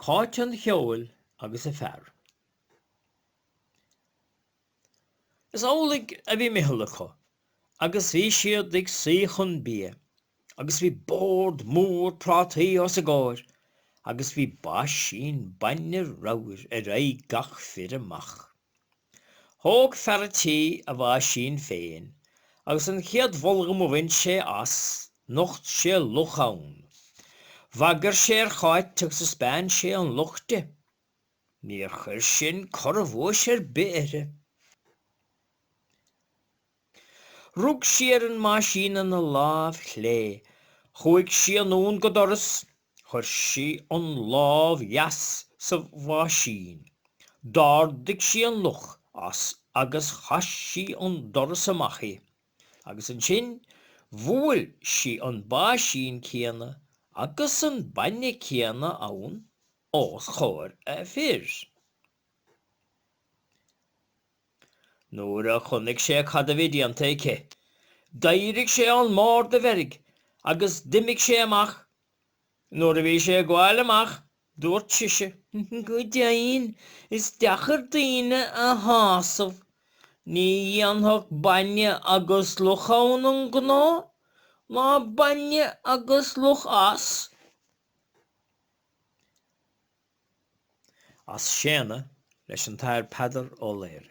Cáit an Cheoil agus a fear. Is amhlaidh a bhí meitheal acu agus bhí siad ag suí chun bia agus bhí bord mór prátaí os a gcomhair agus bhí baisín bainne ramhair ar aghaidh gach fir amach. Thóg fear a tí a bháisín féin agus an chéad bholmac a bhain sé as, nocht sé luch ann. Bhagair sé ar Cháit agus thaispeáin sé an luch di. Níor chuir sin corrabhuais ar bith uirthi. Rug sí ar an mbáisín ina láimh chlé, chuaidh sí anonn go doras, chuir sí an lámh dheas sa bháisín, d'árduigh sí an luch as agus chaith sí an doras amach i, agus annsin bhuail sí an báisín céanna agus an bainne céanna ann os chomhair a fir. Nuair a chonnaic sé cad a bhí déanta aici, d'eirigh sé ó'n mbord i bhfeirg agus d'imigh sé amach. Nuair a bhí sé ag gabhail amach dubhairt sise, Go deimhin is deacair daoine a shásamh. Ní dhéanfadh bainne agus luch ann an gnó, ná bainne agus luch as. as Séadna leis an Athair Peadar Ó Laoghaire.